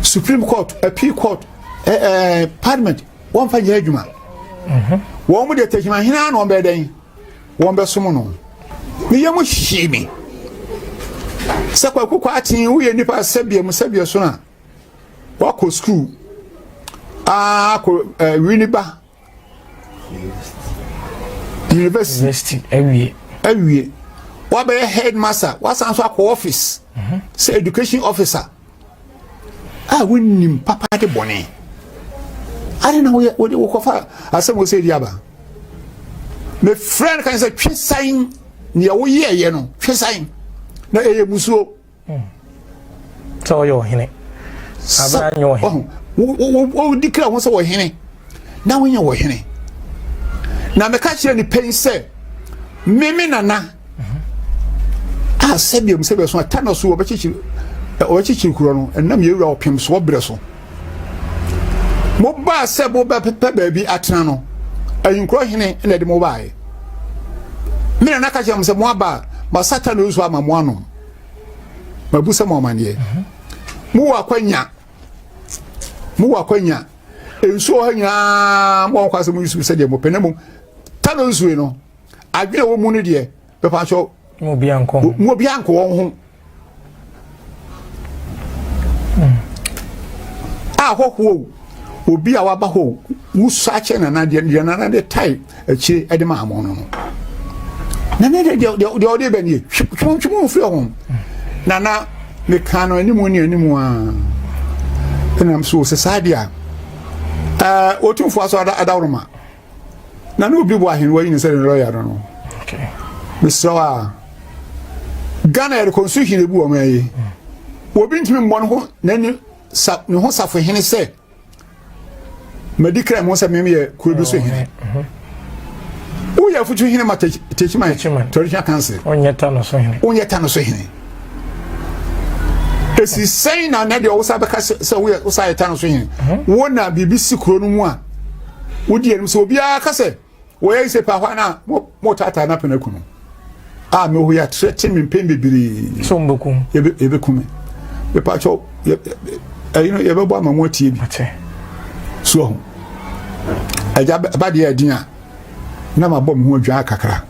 supreme court appeal court eh, eh, parliament wɔmfa nyɛ adwuma mhm. wɔn mu de tɛkyima hena na wɔn bɛyɛ dɛn wɔn bɛsom no ne yɛ mu hyii me sɛ kwaku kɔ aten woyɛ nipa sɛbea mu sɛbea so na wakɔ sukuu akɔ eh, wini ba university awie awie wabɛyɛ headmaster wasan nso akɔ office mhm. sɛ education officer a ah, wonim papa de bɔne ade na woyɛ wode wokɔfa asɛm wɔ sɛ di aba mefrɛ no kan sɛ twe san neɛ woyɛɛyɛ no twe san na ɛyɛ musuo sɛ ɔyɛ ɔhene abira nyɛ ɔhene wɔdi kra ho sɛ ɔhene na wonyɛ ɔhene na mɛka kyerɛ nipa yi sɛ meme nana a sɛdeɛ mu sɛdeɛ so ata na so wɔbɛkyekyere wɔbɛkyekyere kuro no ɛnam yɛwura ɔpem so wɔbrɛ so mobaa sɛ mobɛpɛ baabi atena no ahinkorɔ hene na ɛde mobaeɛ me nana ka kyerɛ m sɛ moaba masata no nso ama mo anom mabusa mo amanneɛ mowɔ akwanya mowɔ akwanya nsuo ha nyinaa mo ɔkɔ asɛ mo yusu sɛ deɛ mopɛ na mmom tano nsuo no adwene wɔ mu no deɛ bɛpa kyɛw mo obiara nkɔ wɔn ho ahɔhoɔ obi a waba hɔ wusua kyɛ nana deɛ nana de tae akyire ɛde ma hamɔn no no na ne de deɛ deɛ ɔde bɛ nie twɛn twɛn firi ho na na ne kan no anim ne anim a ɛnam so sɛ saa deɛ a ɛɛ otumfoɔ aso ada adaworo ma na ne obi bɔ ahennwa yi ne sɛ ne lɔya no no mesrɛ a ghana yɛde kɔ nso hire bi wɔn ayi obi ntumi mmɔ ne ho n'ani sa ne ho safo hene sɛ madi kra mu sɛ mem yɛ kuro bi so hene woyɛ afutu hene ma takyiman traditional council wonyɛ ta no so hene wonyɛ ta no so hene ɛsi sɛn na na deɛ wosa bɛka sɛ woyɛ wosa yɛ ta no so hene wo na biribi si kuro no mu a wodi anim sɛ obiara ka sɛ Wɔyɛ ise pa hwan a mo mo taataa na pene kunu a me ho ya tre te me mpem bebree so mo bekum yebe yebe kume me pa cho ɛyi no yebe bɔ ama mo atie bi so ho ɛgya ba de adin a na ma bɔ me ho adwa kakra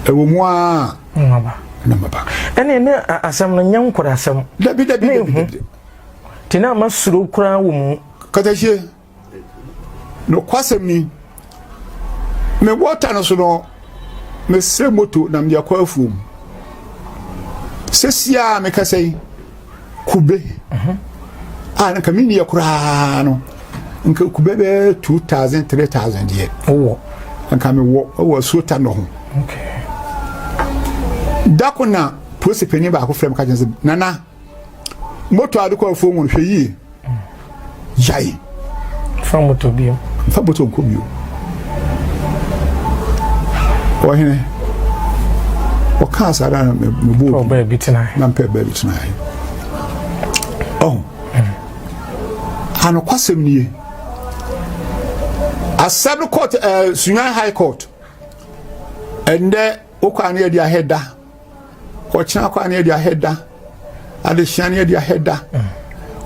ɛwɔ mu a maba na maba ɛne ne asɛm no nyɛ nkora asɛm dabi dabi dabi tina ma suro kura wɔ mu kata hie Nokwasɛm ni, mebɔ ɔta no so no, mesrɛ moto na mede akɔ afuom. Sɛsi a mekasa yi, kube mhm. a nka menni yɛ koraa no, nka kube bɛyɛ 2000 3000 deɛ wowɔ nka mewɔ wɔ asuota no ho. Okay. Da ko na polisi panyin baako frɛ me ka kyerɛ sɛ nana moto ade kɔ afuo mu hwɛ yie gyae fa moto bio fa moto nkɔ bio ɔhene ɔkaa saa da na mebɔ na mpɛ baabi tenae ɔho anokwasɛm nie asɛm no court uh, eh, sunya high court ɛndɛ wokɔ ano yɛde ahɛ da Ɔkyena kwa ne ɛde ahɛ da. Adehyia ne ɛde ahɛ da.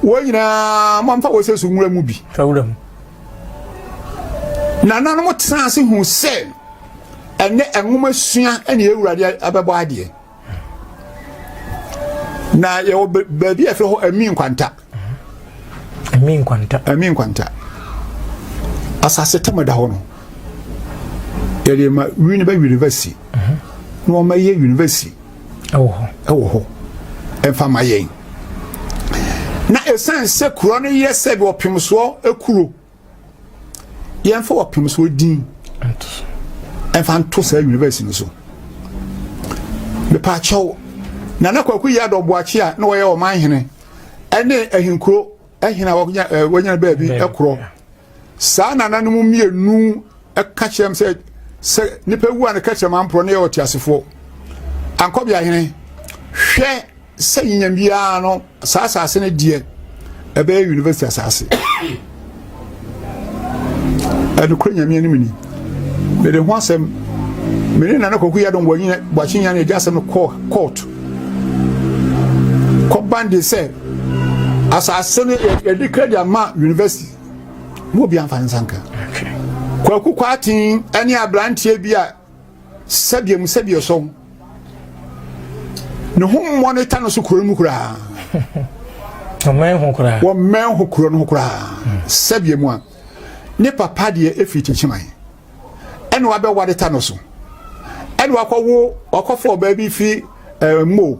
Wɔn nyinaa mamfa wɔ sɛ so nwura mu bi. Nananom tena ase hu sɛ ɛnɛ nwoma sua ne awurade abɛbɔ adeɛ. Na yɛwɔ baabi a ɛfrɛ hɔ ɛmi nkwanta. Ɛmi nkwanta. Ɛmi nkwanta. Asase tam ɛda hɔ no yɛde ma wini bɛ university na wɔn yɛ university ɛwɔ hɔ ɛwɔ hɔ ɛnfa ma yɛn na esan sɛ kuro no yɛ sɛ bi ɔpemsoɔ ekuro. yɛmfa wɔpem so din ɛmfa nto saa university no so mepaakyɛw na na kwaku yi adɔ boakye a na wɔyɛ ɔman hene ɛne ahinkuro ahene a wɔnyɛ baabi ɛkorɔ saa nana no mu mmienu ɛka kyerɛm sɛ sɛ nipa wu a ne ka kyerɛm amporɔ ne yɛ ɔte asefoɔ ankɔbea hene hwɛ sɛ nya biara no saa asase no deɛ ɛbɛyɛ university asase ɛnokorɛ nyame anim ni mede ho asɛm mene nana kɔku yɛ dɔn bɔakye nya no agya asɛm no kɔɔ court kɔban de sɛ asase no yɛde kra de ama university mo obi amfa ne nsa nka kwaku kwaten ne aberanteɛ bi a Sɛdeɛ mu sɛdeɛ sɔn ne ho mmɔ ne ta no so kuro no mu koraa wɔmmɛn ho koraa wɔmmɛn ho kuro no ho koraa hmm. sɛdeɛ mu a ne papa deɛ ɛfiri kyenkyeman ɛne wabɛware ta no so ɛne wakɔwo wakɔfo ɔbaa bi firi eh, mo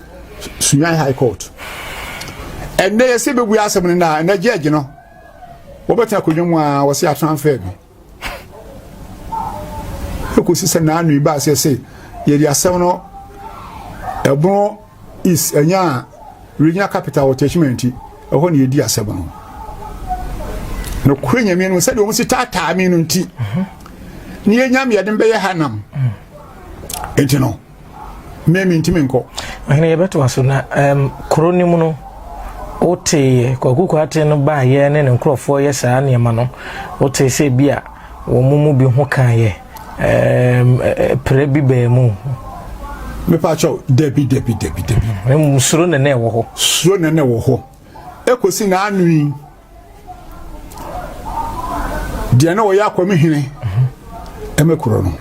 Sunyani High Court. Ɛnɛ yɛsɛ bɛbue asɛm no na ɛnɛ gyɛɛgye no wɔbɛtena akonnwa mu a wɔsɛ atransfer bi ɛkɔsi sɛ naano ibaa sɛ sɛ yɛde asɛm no ɛbono is ɛnya regional capital wɔ tɛkyima nti ɛhɔ ne yɛdi asɛm no nokorɛ nyame no sɛdeɛ ɔmo si taataa me no nti ne yɛnya meɛde mbɛyɛ ha nam nti no Me mentumi nkɔ. Ɔhene yɛbɛtoa so na um, kuro no mu no woteeɛ Kwaku Kwate no baayɛ ne ne nkurɔfoɔ yɛ saa nneɛma no wotee sɛ bi a wɔn mu bi ho kaeɛ um, pere bi baa mu. Mepaakyɛw dabi dabi dabi dabi. Suro na na ɛwɔ hɔ. Suro na na ɛwɔ hɔ. Ekosi na anwi. deɛ na ɔyɛ akɔm hene ɛmɛ korɔ no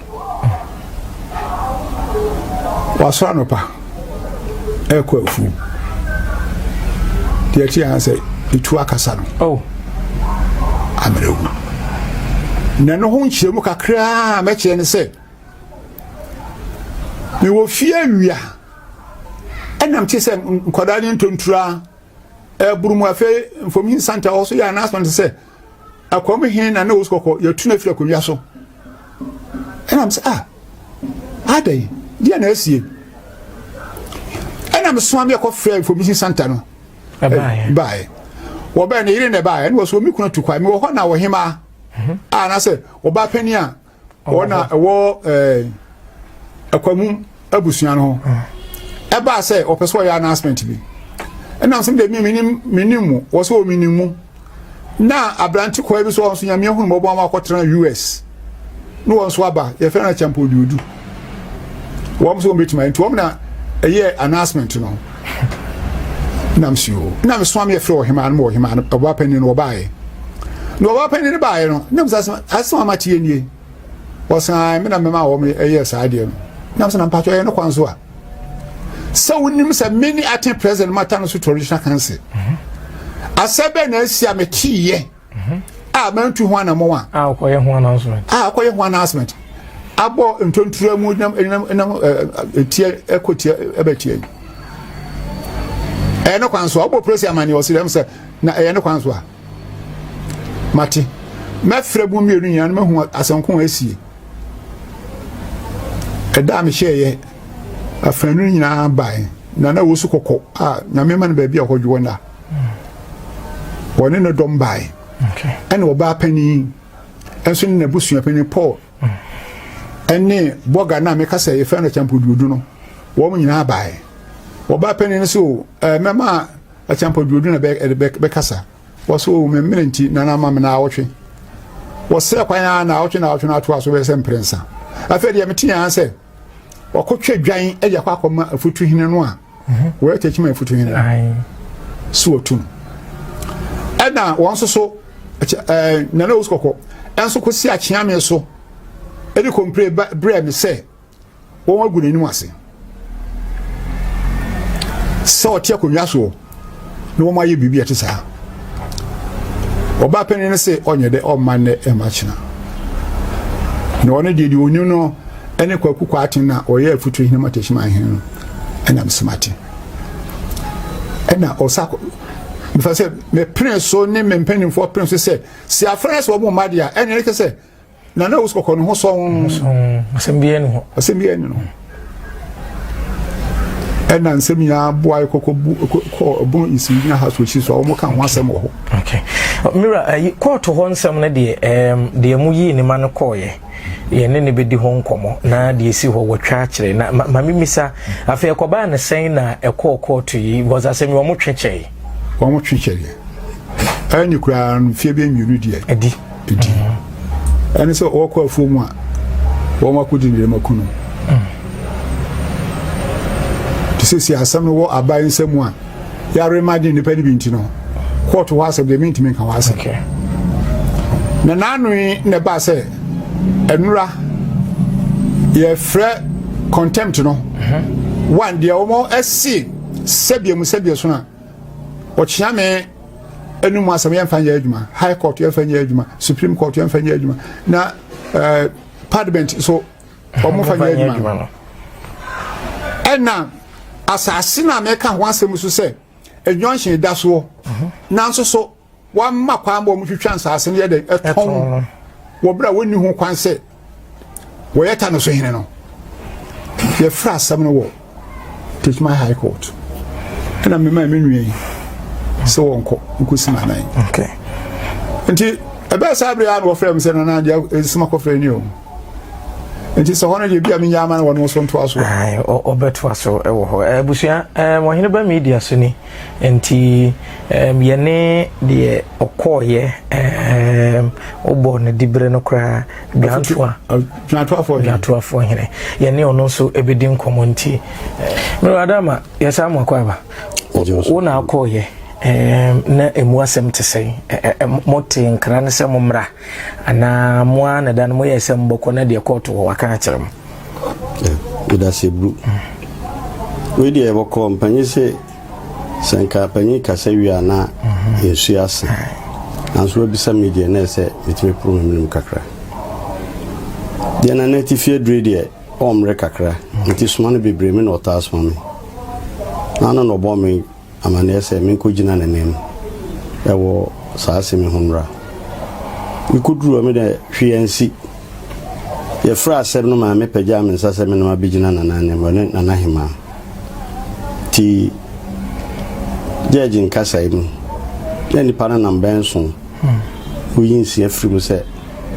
wasɔ anɔpa ɛkɔ afuo deɛ ɛte yɛn sɛ etu akasa no oh. amerɛwu na ɛno ho nkyerɛmu kakraa mɛkyerɛ ne sɛ mewɔ fie awia ɛnam te sɛ nkwadaa ne ntonturaa ɛboro mu afei mfomi nsanta wɔ so yɛ announcement sɛ akwam he na na wɔsu kɔkɔ yɛtu no afiri akonnwa so ɛnam sɛ ah adɛn deɛ na asie ɛnam soa me ɛkɔ frɛ mfomi nsanta no baeɛ wɔbɛɛ ne yere na ɛbaeɛ ɛne wɔ so wɔmi kuna tu kwae mewɔ hɔ na wɔhemaa mhm. a ah, na sɛ wɔba panin a wɔn a ɛwɔ ɛɛ ɛkwamu abusua no ho ɛbaa sɛ ɔpɛ so ɔyɛ announcement bi ɛnam sɛ deɛ menim menim mu wɔ sɛ ɔmenim mu na aberante kɔɛ bi so wɔn nso nyameɛ hunu mɔbɔ ama akɔtena us ne wɔn nso aba yɛfrɛ no akyɛmpɔ oduodu wɔn nso wɔn bɛtumi nti wɔn na ɛyɛ announcement no na msi o na mesoma me yɛfrɛ ɔhemaa no ma ɔhemaa no ɔbaa panyin no ɔbaeɛ na ɔbaa panyin no baeɛ no na mesɛ asɛm ama teɛ nie ɔsan me na mema wɔm ɛyɛ saa deɛ no na mesɛ na mpatwɛ ɛyɛ no kwan so a sɛ wonim sɛ me ne aten president mata no so traditional council asɛ bɛɛ na asi a meteeɛ a mantu ho anammɔn a. a ɔkɔyɛ ho announcement. a ɔkɔyɛ ho announcement. abɔ ntontura mu nam nam nam etia ɛkɔ tia ɛbɛ tia yi. ɛyɛ ne kwan so a ɔbɔ polisi amane ɔsi dɛm sɛ na ɛyɛ ne kwan so a mate mɛfrɛ mu mmienu nyinaa no mahu asɛnko a asie ɛda a mehyɛɛyɛ afanu nyinaa bae na na wɔsu kɔkɔ a nyame ma no baabi a ɔkɔdwoɔ nna wɔne no dɔm bae ɛne ɔbaa panyin ɛnso ne n'abusua panyin paul ɛne bɔga no a meka sɛ yɛfrɛ no kyampoduodu no wɔn nyinaa bae ɔbaa panyin no so ɛɛ mɛma kyampoduodu na bɛkasa wɔso oh, memmere nti nana ma me na awɔtwe wɔsɛ kwan a na awɔtwe na awɔtwe no atoa so bɛyɛ sɛ mprɛnsa afei deɛ mete yɛn sɛ wɔkɔtwa dwan de akɔ akɔma afutuhene no a wɔyɛ tɛkyim a ɛfutu nyina so wɔtum ɛna wɔn nso so ɛɛ nana osu kɔkɔ ɛnso kɔsi akyeame so ɛde kɔmpire brɛ me sɛ wɔn agu n'anim ase sɛ ɔte akonnwa soɔ na wɔn ayɛ biribi a ɛte saa ɔbaa panyin no sɛ ɔnyɛ dɛ ɔmma nnɛ ɛmma kyena na ɔno deɛ deɛ ɔnim no ɛne kwaku kwa aten na ɔyɛ afutu hene ma tɛhyima ahene no ɛnam sɛ mate ɛna ɔsa mefa sɛ mepene so ne me mpanimfoɔ pene so sɛ sɛ afra sɛ ɔmo mma deɛ a ɛne ɛne sɛ na na ɔsi kɔkɔ ne ho sɔn. asɛm biara ni hɔ. asɛm biara ni no. ɛna nsɛm nyinaa boa yɛ kɔkɔ bu kɔ ɛbɔn nsiw gyina ha so esi so a wɔn ka ho asɛm wɔ hɔ. mira ɛyi kɔɔto hɔ nsɛm no deɛ ɛɛm deɛ mo yii ne ma no kɔɔyɛ yɛn ne ne bɛdi ho nkɔmɔ na deɛ esi hɔ wɔtwa akyerɛ na ma maame misa afei ɛkɔbaa ne sɛn na ɛkɔɔ kɔɔto yi wɔdze asɛm yi wɔn twɛ kyɛɛ. wɔn twɛ kyɛɛ ɛne koraa no fie bɛ mmienu deɛ. ɛdi. ɛdi ɛne sɛ ɔkɔ afuo mu a wɔn akɔdi ne dɛma kunu te sɛ si asɛm no wɔ aban nsɛm mu a yɛare ma de nnipa no bi nti no kɔɔto hɔ asɛm deɛ mentumi nka hɔ asɛm na naanoe na ɛbaa sɛ ɛnora yɛfrɛ contempt no mhm. one deɛ wɔn ɛse sɛdeɛ mu sɛdeɛ so no a Wɔkyea me anum asɛm yɛmfa nyɛ adwuma, High Court yɛmfa nyɛ adwuma, Supreme Court yɛmfa nyɛ adwuma, na eh, Parliament so wɔmfa nyɛ adwuma no. Ɛna asase no a meka ho asɛm so sɛ ɛnwɔnhye da soɔ, mhm. nanso so Wɔmma kwan ma wɔtwitwa nsaase no yɛ dɛn ɛtɔn wɔ berɛ a wɔnni ho kwan sɛ wɔyɛ ta no so hene no. Yɛfrɛ asɛm no wɔ Techiman High Court ɛna mema me nua yi sɛ wɔnkɔ nkɔsi n'anan. Nti ɛbɛɛ saa berɛ a na wɔfrɛ m sɛ nana deɛ ɛsima kɔfrɛ ni o nti sɛ hɔ no deɛ bi a menyɛ ama no wɔno so ntoa so ɔbɛtoa so wɔ hɔ abusua wɔhene ba media so ni Enti yɛne deɛ ɔkɔɔeɛ wobɔɔ no diberɛ no koraa dwantoa dwantoafoɔ hene yɛne ɔno nso ɛbɛdi nkɔmmɔ nti mmerɛ adama yɛsaa mu akɔ aba wo na akɔɔeɛ na ɛmu asɛm te sɛn mote nkra no sɛ mo mmra anaa mo a na da no moyɛ sɛ mbɔkɔ na deɛ kɔɔto wɔ waka akyerɛ mo Medase bru. Wei deɛ bɔkɔɔ mpanyin se sɛ nka panyin kasa wie a na nsuo asa. Nanso wabisa me deɛ na ɛsɛ metumi poro me menom kakra. Deɛ na na atifi adure deɛ ɔmmere kakra nti soma no bebree me na ɔtaa soma me. Na ano na ɔbɔ me amanneɛ sɛ menkɔgyina n'anim wɔ saa asɛm yi ho mmra. Mekɔduruu hɔ, me deɛ hwee ansi. Yɛfrɛɛ asɛm no maa mepagyaa me nsa sɛ me ne wabɛgyina Nana anim, ɔne Nana Hemaa. Nti gyɛɛgye nkasaeɛ mu, na nnipa no nam bɛn nson woyi nsia firi mu sɛ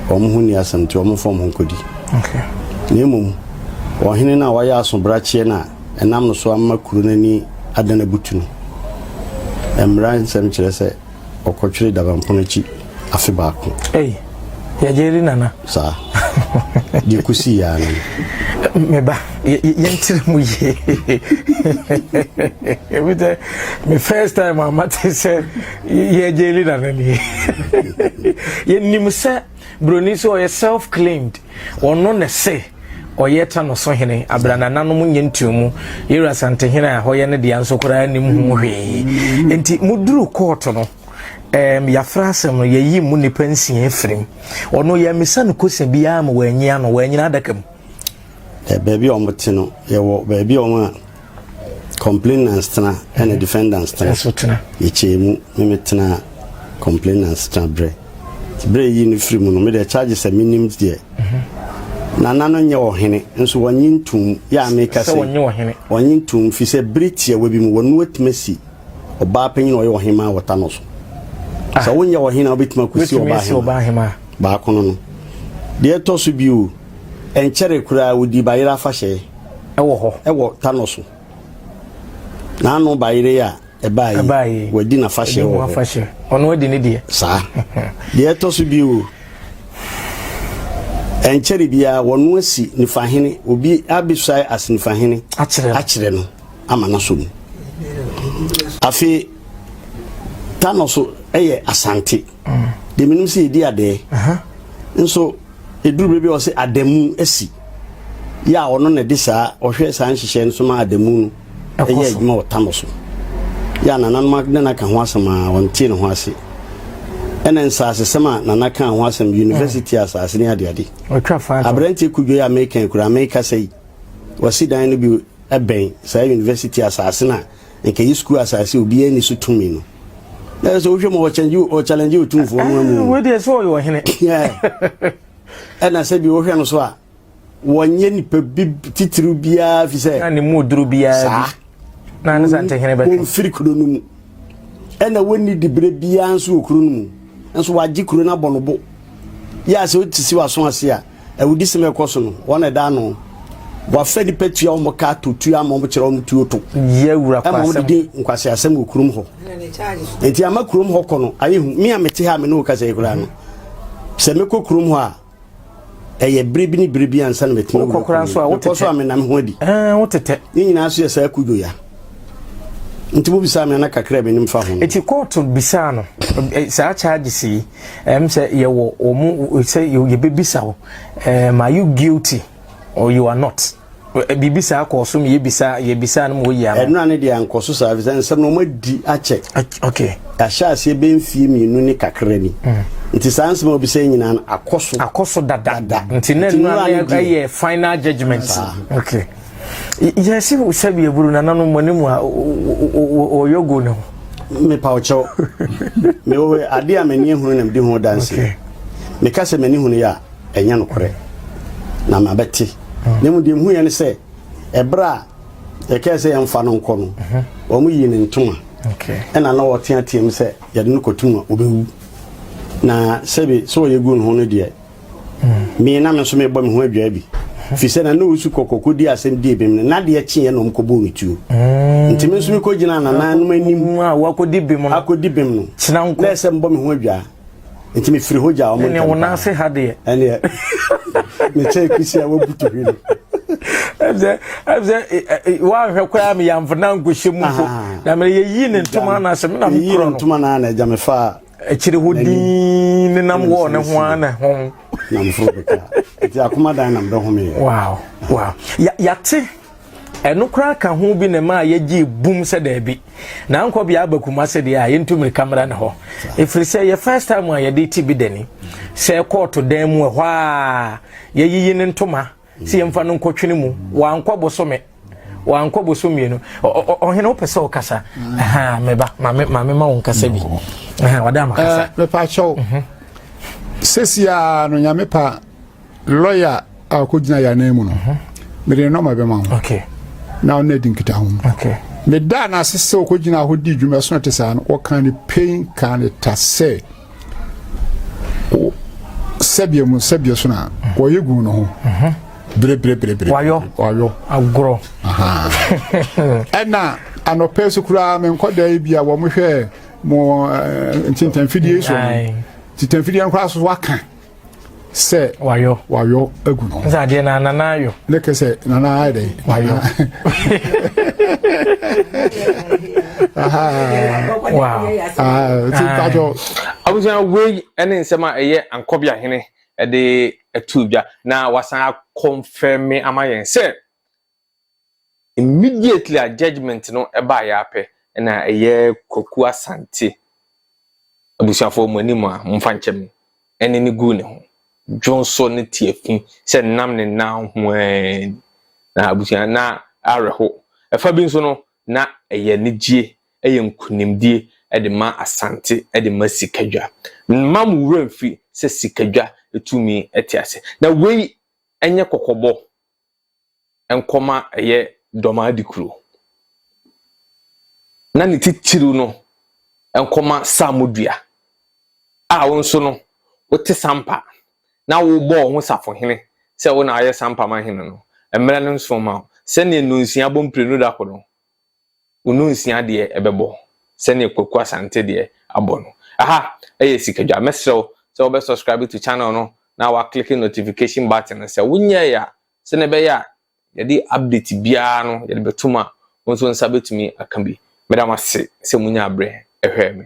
wɔn ho nni asɛm nti wɔmfa wɔn ho nkɔdi. Na mmom ɔhene no a wayɛ aso brakyeɛ no a Ɛnam no so ama kuro no ani adan abutu no, mmara nsɛm kyerɛ sɛ ɔkɔtwere dabampono akyi afe baako. Ei, yɛgye di nana. Saa. Deɛ kɔsi yɛ ara no. Me ba, yɛnkyerɛ mu yie. Ebi sɛ, me first time a mate sɛ yɛgye di nana nie. Yɛnim sɛ buroni sɛ ɔyɛ self-claimed. Ɔno na se ɔyɛ ta no so hene abere a nananom nyɛ ntuomu. Yɛwura Asantehene a hɔyɛ no dea nso koraa nim ho hwee. Enti moduru kɔɔto no, um, yɛafra asɛm no, yɛyi mu nnipa nsia afiri mu. Ɔno yɛmmisa no kosa biara ma wɔanyi ano, wɔanyina adaka mu. Baabi a wɔte no, yɛwɔ baabi a wɔn a Complainants tena ɛna defendants tena. Ɛso tena. Yɛkyɛɛ mu ne me tena complainants tena berɛ. Berɛ yi no firi mu no, me deɛ charges sɛ menim deɛ. Mhm. Nana no nyɛ ɔhene nso wɔnye ntum yɛ a meka sɛ wɔnye ɔhene. Wɔnye ntum fi sɛ bere tiawa bi mu wɔn atumi si ɔbaa panyin ɔyɛ ɔhene maa wɔta no so. Ah. Sɛ wonyɛ ɔhene a wobɛtumi akɔsi ɔbaa hema. Baako no no. Deɛ ɛtɔ so bio, ɛnkyɛre koraa wodi bayerɛ afahyɛ. Ɛwɔ hɔ, ɛwɔ Tanɔ so. N'ano bayeree a ɛbaa yi, wɔadi n'afahyɛ wɔ hɔ. Ɔno adi ne deɛ. Saa. Deɛ ɛtɔ so bio, ɛnkyɛre biara wɔno asi nifahene, obi abɛsuae as nifahene akyerɛ no ama no asɔ mu. Afei, Tanɔ so yɛ Asante. Deɛ menim sɛ yɛdi adɛɛ. Nso Ɛduru berɛ bi a ɔse adamu asi yɛ a ɔno na de saa ɔhwɛ saa nhyehyɛe no so ma adamu no yɛ adwuma wɔ tano so yɛ a nananom ne no aka ho asɛm a ɔntee ne ho ase ɛna nsasesɛm a nana kaa ho asɛm university asase ne adeade aberanteɛ kudwo yɛ a meka kura meka sɛ yi wɔsi dan no bi ɛbɛn saa university asase no a Anka eyi sukuu asase a obiara nni so tumi no. Na sɛ wohwɛ mu ɔkyɛlɛngye otumfoɔ no amu. Wei deɛ sɛ ɔyɛ ɔhene. Ɛna sɛ bi wohwɛ no so a wɔnyɛ nipa bi titiriw biara fi sɛ. Na ne mu oduro biara bi. Saa. Na ne sante hene bɛtwe. Wɔmfiri kuro no mu. Ɛna wɔnni dibere biara nso wɔ kuro no mu. Nso wɔagye kuro no abɔ no bo. Yɛ a sɛ wote si w'aso ase a. awudisɛm a ɛkɔ so no wɔn na ɛda ano wɔafrɛ nipa tua wɔn ka to tua ama wɔn kyerɛ wɔn tuo to ɛma wɔn didi nkwasi asɛm wɔ kurom hɔ nti ama kurom hɔ kɔ no ayɛ hu mi a mete ha mi ne wo kasa yi koraa no sɛ mekɔ kurom hɔ a ɛyɛ bere bi ne bere bi ansa na mɛtumi wura kwan so a wotete so a menam ho adi ɛɛ wotete ne nyinaa so yɛ saa kudwo ya nti mo bisa mi ana kakra mi nim fa ho. eti kóòtù bisa no saa charges yi. Ɛm sɛ yɛwɔ wɔn sɛ yɛbɛbisa wo ɛɛm are you guilty or you are not biribi saa kɔɔ so yɛbisa yɛbisa no ma wɔyi ano. ɛnora no deɛ ankɔ so saa ɛfiri sɛ nsɛm no wɔn adi akyɛ okay ahyɛ aseɛ bɛ mfie mmienu ne kakra ni mm. nti saa nsɛm a wɔbisa yi nyinaa akɔ so akɔ so dada nti na ɛnora no ɛyɛ final judgement okay. yɛsi mu sɛbi eburu nananom mo ne mu a wɔyɔ go ne ho. mepa ɔkyɛw mewɔ ade a m'ani ahunu na medi ho danse meka sɛ m'ani hunu yɛ a ɛnyɛ nokorɛ na mabɛte hmm. na mu deɛ mhu yɛ ne sɛ ɛberɛ a yɛkɛɛ sɛ yɛmfa no nkɔ no mhm. wɔn yii ne ntoma ɛna na wɔteateam sɛ yɛde no kɔtum a wɔbɛwu na sɛbi sɛ wɔyɛ gu no ho no deɛ Me na me nso mebɔ me ho adwaa bi. Fi sɛ na Nowusu kɔ kɔkɔ di asɛm di ebim no, na deɛ kyeeɛ na wɔn kɔbuu no tuo. Nti me nso mekɔ gyinaa nananom anim akɔdi bim no, na ɛsɛ mbɔ me ho adwaa. Nti me firi hɔ gyaa wɔn ntɛm paa. Ɛneɛ me kyɛɛ kisi a wabutu hwi no. Ɛsɛ ɛsɛ wɔahwɛ koraa me yamfo na nkɔhyɛ mu mpo. Na me yɛyi ne ntoma no ase me na me korɔ no. Yɛyi ne ntoma no na ɛgya me faa akyiri hɔ dinn nenam hɔ ne ho ara na ho nam foro bɛka ɛti akoma dan nam bɛhome yɛ wow wow yɛate ɛno koraa ka ho bi na ɛma yɛgye bum sɛ daabi na ankɔ bea aba kuma sɛ deɛ a yɛntu mmirika mmra ne hɔ ɛfiri sɛ yɛ first time a yɛde ti bi dani sɛ kɔɔto dan mu ɛhɔ a yɛyiyi ne ntoma Sɛ yɛmfa no nkɔtwene mu, wankɔ bosome wankɔ boso mmienu ɔhene wopɛ sɛ ɔkasa mm. meba mame ma wo nkasa bi mm. wada makasa eh, mepa kyɛw mhm. sɛsiaa no nyame pa lɔya a ɔkɔgyina yɛ anan mu no mhm. mede ne nɔma bɛma ho na ɔno adi nkita ho meda no ase sɛ ɔkɔgyina hɔ di dwuma so no te saa no wɔka ne pain ka ne ta sɛ sɛdeɛ mu sɛdeɛ so na wɔyɛ gu no ho berebereberebere wayɔ wayɔ agorɔ ɛna anɔpɛ so koraa me nkɔda yi bi a wɔn hwɛ mo eh, ntintanfidie so ntintanfidie nkora so waka sɛ wayɔ wayɔ agu no sɛ adeɛ na nana ayɔ ne kɛ sɛ nana ayɛ dɛ wayɔ abusua wei ne nsɛm a ɛyɛ ankɔbea hene ɛde ɛtu dwa na wasan akɔnfɛmi ama yɛn sɛ Immediately a judgement no baeɛ ara pɛ na ɛyɛ Kwaku Asante abusuafoɔ mo anim a momfa nkyɛ me ɛne no guu ne ho dwonsɔ ne tiafi sɛ nam ne nan ho ara ni na abusua na awerɛho. Ɛfa bi nso no na ɛyɛ anigyeɛ ɛyɛ nkunimdie ɛde ma Asante ɛde ma Sikadwa. Mma mo werɛ mfiri sɛ Sikadwa tumi te ase na wei ɛnyɛ kɔkɔbɔ. nkɔm a ɛyɛ dɔm adi kuro. Na ne titiriw no nkɔma saamudua a wo nso no wote sampa na wobɔ wo ho safohene sɛ wo na ayɛ sampa ma hene no mmerɛ no nso ma wo sɛdeɛ nnonsia bɔ mprenu da koro no wo no nsia deɛ ɛbɛbɔ sɛdeɛ Kwaku Asante deɛ abɔ no. Aha ɛyɛ sikadwa. Mɛsrɛ wo sɛ wobɛ subscribe to channel no na wa click notification button no. Sɛ wonyɛɛ a, sɛdeɛ ɛbɛyɛ a yɛde update biara no yɛde bɛtom a, wo nso nsa bɛtumi aka bi. Meda mo ase sɛ monya aberɛ ɛhwɛɛ me.